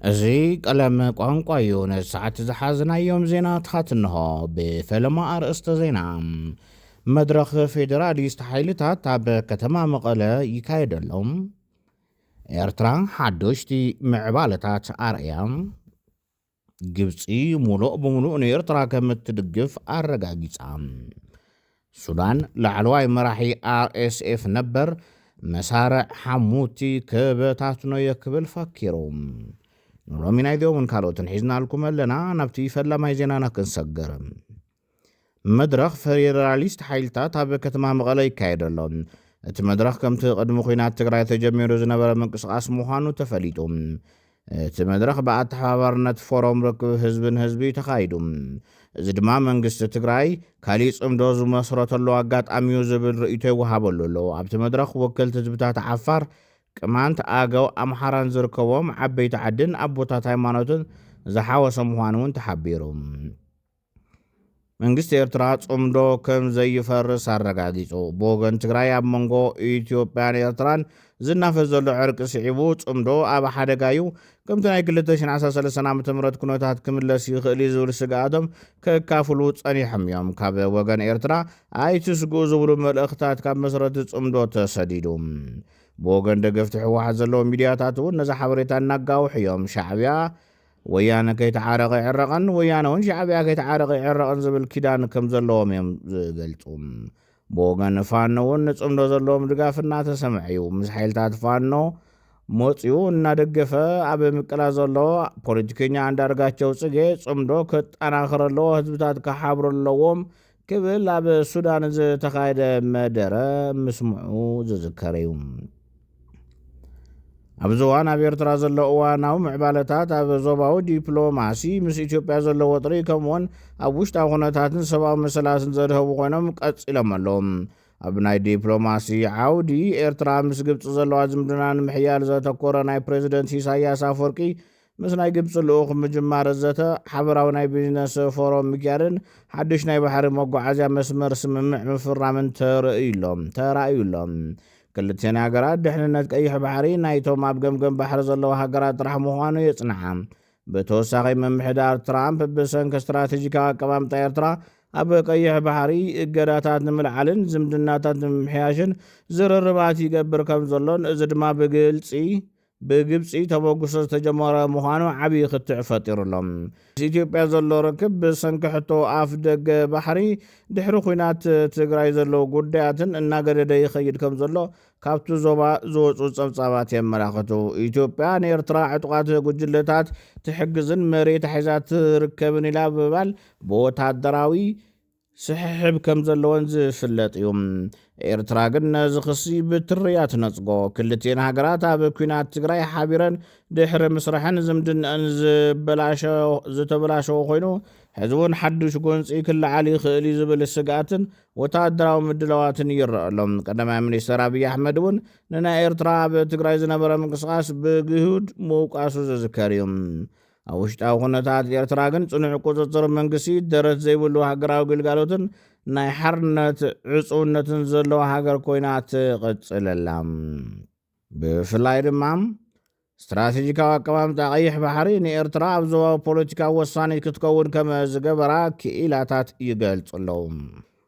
እዚ ቀለም ቋንቋ እዩ ነዚ ሰዓት ዝሓዝናዮም ዜናታት እንሆ ብፈለማ ኣርእስተ ዜና መድረኽ ፌዴራሊስት ሓይልታት ኣብ ከተማ መቐለ ይካየደሎም ኤርትራ ሓዶሽቲ ምዕባለታት ኣርእያ ግብፂ ሙሉእ ብምሉእ ንኤርትራ ከም እትድግፍ ኣረጋጊፃ ሱዳን፣ ላዕለዋይ መራሒ RSF ነበር መሳርዕ ሓሙቲ ክበታትኖ'የ ክብል ፈኪሩ። ንሎሚ ናይዚኦምን ካልኦትን ሒዝናልኩም ኣለና። ናብቲ ፈላማይ ዜናና ክንሰግር። መድረኽ ፌዴራሊስት ሓይልታት ኣብ ከተማ መቐለ ይካየድ ኣሎ። እቲ መድረኽ ከምቲ ቅድሚ ኹናት ትግራይ ተጀሚሩ ዝነበረ ምንቅስቓስ ምዃኑ ተፈሊጡ። እቲ መድረኽ ብኣተሓባባርነት ፎሮም ርክብ ህዝቢ ንህዝቢ እዩ ተኻይዱ። እዚ ድማ መንግስቲ ትግራይ ካሊእ ፅምዶ ዝመስረተሉ ኣጋጣሚ እዩ ዝብል ርእይቶ ይወሃበሉ ኣሎ። ኣብቲ መድረኽ ወከልቲ ህዝብታት ዓፋር፣ ቅማንት፣ ኣገው፣ ኣምሓራን ዝርከቡዎም ዓበይቲ ዓድን ኣቦታት ሃይማኖትን ዝሓወሰ ምዃኑ እውን ተሓቢሩ። መንግስቲ ኤርትራ ጽምዶ ከም ዘይፈርስ ኣረጋጊጹ። ብወገን ትግራይ ኣብ መንጎ ኢትዮጵያን ኤርትራን ዝናፈስ ዘሎ ዕርቂ ስዒቡ ጽምዶ ኣብ ሓደጋ እዩ፣ ከምቲ ናይ ክልተ ሽሕን ዓሰርተ ሰለስተን ዓመተ ምህረት ኩነታት ክምለስ ይኽእል እዩ ዝብል ስግኣቶም ከካፍሉ ጸኒሖም እዮም። ካብ ወገን ኤርትራ ኣይትስግኡ ዝብሉ መልእኽታት ካብ መስረቲ ጽምዶ ተሰዲዱ። ብወገን ደገፍቲ ህወሓት ዘለዉ ሚድያታት እውን ነዚ ሓበሬታ እናጋውሑ እዮም። ሻዕብያ ወያነ ከይተዓረቐ ይዕረቐን ወያነውን ሻዕብያ ከይተዓረቐ ይዕረቕን ዝብል ኪዳን ከም ዘለዎም እዮም ዝገልጹ። ብወገን ፋኖ እውን ንጽምዶ ዘለዎም ድጋፍ እናተሰምዐ እዩ። ምስ ሓይልታት ፋኖ መጽኡ እናደገፈ ኣብ ምቅላ ዘሎ ፖለቲከኛ ኣንዳርጋቸው ጽጌ ጽምዶ ከጠናኽር ኣለዎ፣ ህዝብታት ክሓብሩ ኣለዎም፣ ክብል ኣብ ሱዳን ዝተኻየደ መደረ ምስምዑ ዝዝከር እዩ። ኣብዚ እዋን ኣብ ኤርትራ ዘሎ እዋናዊ ምዕባለታት ኣብ ዞባዊ ዲፕሎማሲ ምስ ኢትዮጵያ ዘሎ ወጥሪ ከምኡውን ኣብ ውሽጣዊ ኩነታትን ሰብኣዊ መሰላትን ዘድሀቡ ኮይኖም ቀጺሎም ኣለዉ። ኣብ ናይ ዲፕሎማሲ ዓውዲ ኤርትራ ምስ ግብፂ ዘለዋ ዝምድና ንምሕያል ዘተኮረ ናይ ፕሬዚደንት ኢሳያስ ኣፈወርቂ ምስ ናይ ግብፂ ልኡኽ ምጅማር ዘተ ሓበራዊ ናይ ቢዝነስ ፎረም ምግያርን ሓዱሽ ናይ ባሕሪ መጓዓዝያ መስመር ስምምዕ ምፍራምን ተርእዩ'ሎ ተራእዩ'ሎ። ክልቲኤን ሃገራት ድሕንነት ቀይሕ ባሕሪ ናይቶም ኣብ ገምገም ባሕሪ ዘለዉ ሃገራት ጥራሕ ምዃኑ የፅንሓ። ብተወሳኺ ምምሕዳር ትራምፕ ብሰንኪ ስትራቴጂካዊ ኣቀማምጣ ኤርትራ ኣብ ቀይሕ ባሕሪ እገዳታት ንምልዓልን ዝምድናታት ንምምሕያሽን ዝርርባት ይገብር ከምዘሎን እዚ ድማ ብግልፂ ብግብጺ ተበግሶ ዝተጀመረ ምዃኑ ዓብዪ ክትዕ ፈጢሩ ኣሎ። ምስ ኢትዮጵያ ዘሎ ርክብ ብሰንኪ ሕቶ ኣፍ ደገ ባሕሪ፣ ድሕሪ ኲናት ትግራይ ዘለዉ ጉዳያትን እናገደደ ይኸይድ ከም ዘሎ ካብቲ ዞባ ዝወጹ ጸብጻባት የመላኽቱ። ኢትዮጵያ ንኤርትራ ዕጡቓት ጉጅለታት ትሕግዝን መሬታ ሒዛ ትርከብን ኢላ ብምባል ብወታደራዊ ስሕሕብ ከም ዘለወን ዝፍለጥ እዩ። ኤርትራ ግን ነዚ ክሲ ብትሪ እያ ትነጽጎ። ክልቲኤን ሃገራት ኣብ ኩናት ትግራይ ሓቢረን ድሕሪ ምስረሐን ዝምድነኣን ዝተበላሸወ ኮይኑ ሕዚ እውን ሓዱሽ ጎንጺ ክለዓል ይኽእል እዩ ዝብል ስግኣትን ወተሃደራዊ ምድላዋትን ይረኣ ኣሎ። ቀዳማይ ሚኒስተር ኣብይ ኣሕመድ እውን ንናይ ኤርትራ ኣብ ትግራይ ዝነበረ ምንቅስቓስ ብግሁድ ምውቃሱ ዝዝከር እዩ። ኣብ ውሽጣዊ ኩነታት ኤርትራ ግን ጽኑዕ ቁጽጽር መንግስቲ፣ ደረት ዘይብሉ ሃገራዊ ግልጋሎትን ናይ ሓርነት ዕጹውነትን ዘለዋ ሃገር ኮይና ትቕጽል ኣላ። ብፍላይ ድማ፣ ስትራተጂካዊ ኣቀማምጣ ቀይሕ ባሕሪ ንኤርትራ ኣብ ዞባዊ ፖለቲካ ወሳኒት ክትከውን ከም ዝገበራ ክኢላታት ይገልጹ ኣለዉ።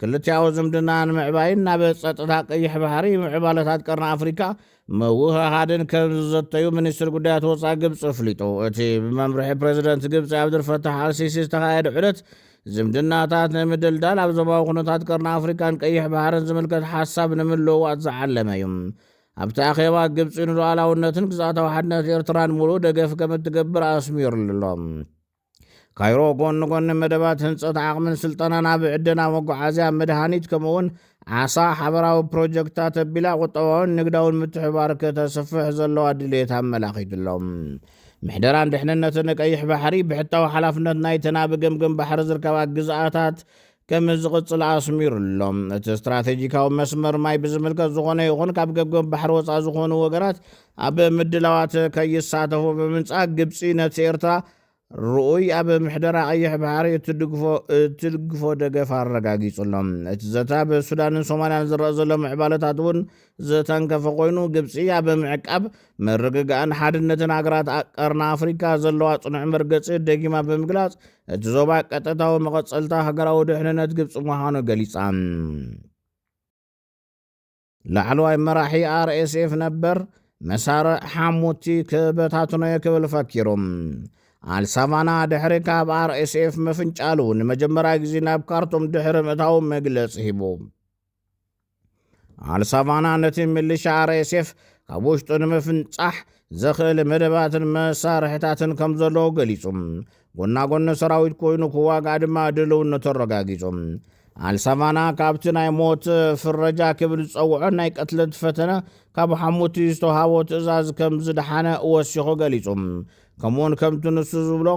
ክልቲኣዊ ዝምድና ንምዕባይን ናብ ጸጥታ ቀይሕ ባሕሪ፣ ምዕባለታት ቀርኒ ኣፍሪካ ምውህሃድን ከም ዝዘተዩ ሚኒስትሪ ጉዳያት ወፃኢ ግብፂ ኣፍሊጡ። እቲ ብመምርሒ ፕረዚደንት ግብፂ ኣብዱልፈታሕ ኣልሲሲ ዝተኻየደ ዑደት፣ ዝምድናታት ንምድልዳል ኣብ ዞባዊ ኩነታት ቀርኒ ኣፍሪካን ቀይሕ ባሕርን ዝምልከት ሓሳብ ንምልውዋጥ ዝዓለመ እዩ። ኣብቲ ኣኼባ ግብፂ ንሉኣላውነትን ግዝኣታዊ ሓድነት ኤርትራን ሙሉእ ደገፍ ከምትገብር ኣስሚሩሉ ኣሎ። ካይሮ ጎኒ ጎኒ መደባት ህንፀት ዓቕምን ስልጠናን ኣብ ዕደና መጓዓዝያ፣ መድሃኒት ከምኡ እውን ዓሳ ሓበራዊ ፕሮጀክትታት ኣቢላ ቁጠባውን ንግዳውን ምትሕባር ከተስፍሕ ዘለዋ ድሌት ኣመላኺቱ ኣሎ። ምሕደራን ድሕንነትን ቀይሕ ባሕሪ ብሕታዊ ሓላፍነት ናይተን ኣብ ገምገም ባሕሪ ዝርከባ ግዝኣታት ከም ዝቕጽል ኣስሚሩ'ሎ። እቲ ስትራተጂካዊ መስመር ማይ ብዝምልከት ዝኾነ ይኹን ካብ ገምገም ባሕሪ ወጻኢ ዝኾኑ ወገናት ኣብ ምድላዋት ከይሳተፉ ብምንጻግ ግብጺ ነቲ ኤርትራ ርኡይ ኣብ ምሕደራ ቀይሕ ባሕሪ እትድግፎ እትድግፎ ደገፍ ኣረጋጊጹ'ሎ። እቲ ዘተ ኣብ ሱዳንን ሶማልያን ዝረኣ ዘሎ ምዕባለታት'ውን ዝተንከፈ ኮይኑ ግብፂ ኣብ ምዕቃብ፣ ምርግጋእን ሓድነትን ሃገራት ቀርኒ ኣፍሪካ ዘለዋ ፅኑዕ መርገፂ ደጊማ ብምግላፅ እቲ ዞባ ቀጥታዊ መቐፀልታ ሃገራዊ ድሕንነት ግብፂ ምዃኑ ገሊፃ። ላዕለዋይ መራሒ RSF ነበር መሳርዕ ሓሙቲ ክበታትኖየ ክብል ፈኪሩ። ኣልሳቫና ድሕሪ ካብ RSF ምፍንጫሉ ንመጀመርያ ግዜ ናብ ካርቱም ድሕሪ ምእታው መግለፂ ሂቡ። ኣልሳቫና ነቲ ምልሻ ኣርኤስኤፍ ካብ ውሽጡ ንምፍንጻሕ ዘኽእል መደባትን መሳርሕታትን ከም ዘለዎ ገሊጹ ጎና ጎኒ ሰራዊት ኮይኑ ክዋጋእ ድማ ድልውነቱ ኣረጋጊጹ ኣልሳቫና ካብቲ ናይ ሞት ፍረጃ ክብል ዝጸውዖ ናይ ቅትለት ፈተነ ካብ ሓሙቲ ዝተውሃቦ ትእዛዝ ከም ዝደሓነ ወሲኹ ገሊጹ ከምኡውን ከምቲ ንሱ ዝብሎ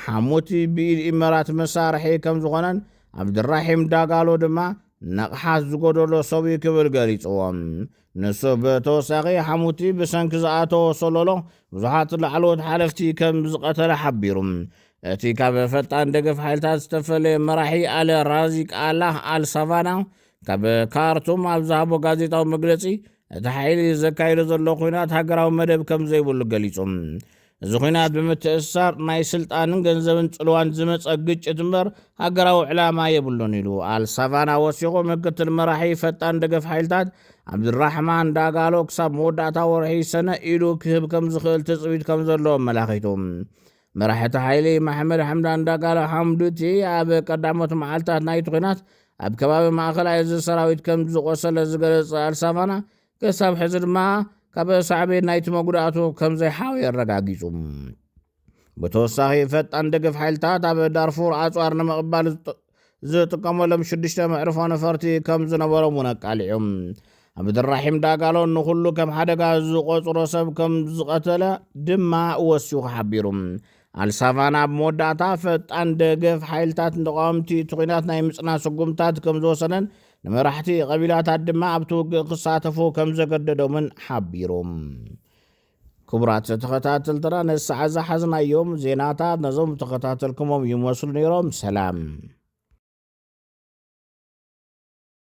ሓሙቲ ብኢድ ኢመራት መሳርሒ ከም ዝኾነን ኣብ ድራሒም ዳጋሎ ድማ ንቕሓት ዝጎደሎ ሰብ'ዩ ክብል ገሊጽዎ። ንሱ ብተወሳኺ ሓሙቲ ብሰንኪ ዝኣተዎ ሰሎሎ ብዙሓት ላዕለዎት ሓለፍቲ ከም ዝቐተለ ሓቢሩ። እቲ ካብ ፈጣን ደገፍ ሓይልታት ዝተፈለየ መራሒ ኣለ ራዚቅ ኣላህ ኣል ሳቫና ካብ ካርቱም ኣብ ዝሃቦ ጋዜጣዊ መግለጺ እቲ ሓይሊ ዘካይዶ ዘሎ ኲናት ሃገራዊ መደብ ከም ዘይብሉ ገሊጹ። እዚ ኹናት ብምትእስሳር ናይ ስልጣንን ገንዘብን ፅልዋን ዝመፀ ግጭት እምበር ሃገራዊ ዕላማ የብሉን ኢሉ። ኣል ሳቫና ወሲኹ ምክትል መራሒ ፈጣን ደገፍ ሓይልታት ዓብዱልራሕማን ዳጋሎ ክሳብ መወዳእታ ወርሒ ሰነ ኢዱ ክህብ ከምዝኽእል ትፅቢት ከምዘሎ ኣመላኺቱ። መራሒ እቲ ሓይሊ ማሕመድ ሓምዳን ዳጋሎ ሓምዱቲ ኣብ ቀዳሞት መዓልትታት ናይቲ ኹናት ኣብ ከባቢ ማእኸላይ እዚ ሰራዊት ከምዝቖሰለ ዝገለፀ ኣል ሳቫና ክሳብ ሕዚ ድማ ካብ ሳዕቤን ናይቲ መጉዳእቱ ከም ዘይሓወየ ኣረጋጊጹ። ብተወሳኺ ፈጣን ደገፍ ሓይልታት ኣብ ዳርፉር ኣጽዋር ንምቕባል ዝጥቀመሎም ሽዱሽተ መዕርፎ ነፈርቲ ከም ዝነበሮም እውን ኣቃሊዑ። ዓብድራሒም ዳጋሎ ንኹሉ ከም ሓደጋ ዝቖጽሮ ሰብ ከም ዝቐተለ ድማ ወሲኹ ሓቢሩ። ኣልሳቫና ኣብ መወዳእታ ፈጣን ደገፍ ሓይልታት ንተቃወምቲ እቲ ኩናት ናይ ምጽና ስጉምታት ከም ዝወሰነን ንመራሕቲ ቀቢላታት ድማ ኣብቲ ውግእ ክሳተፉ ከም ዘገደዶምን ሓቢሩ። ክቡራት ተኸታተልትና ነዚ ሰዓት ዝሓዝናዮም ዜናታት ነዞም ዝተኸታተልኩሞም ይመስሉ ነይሮም። ሰላም።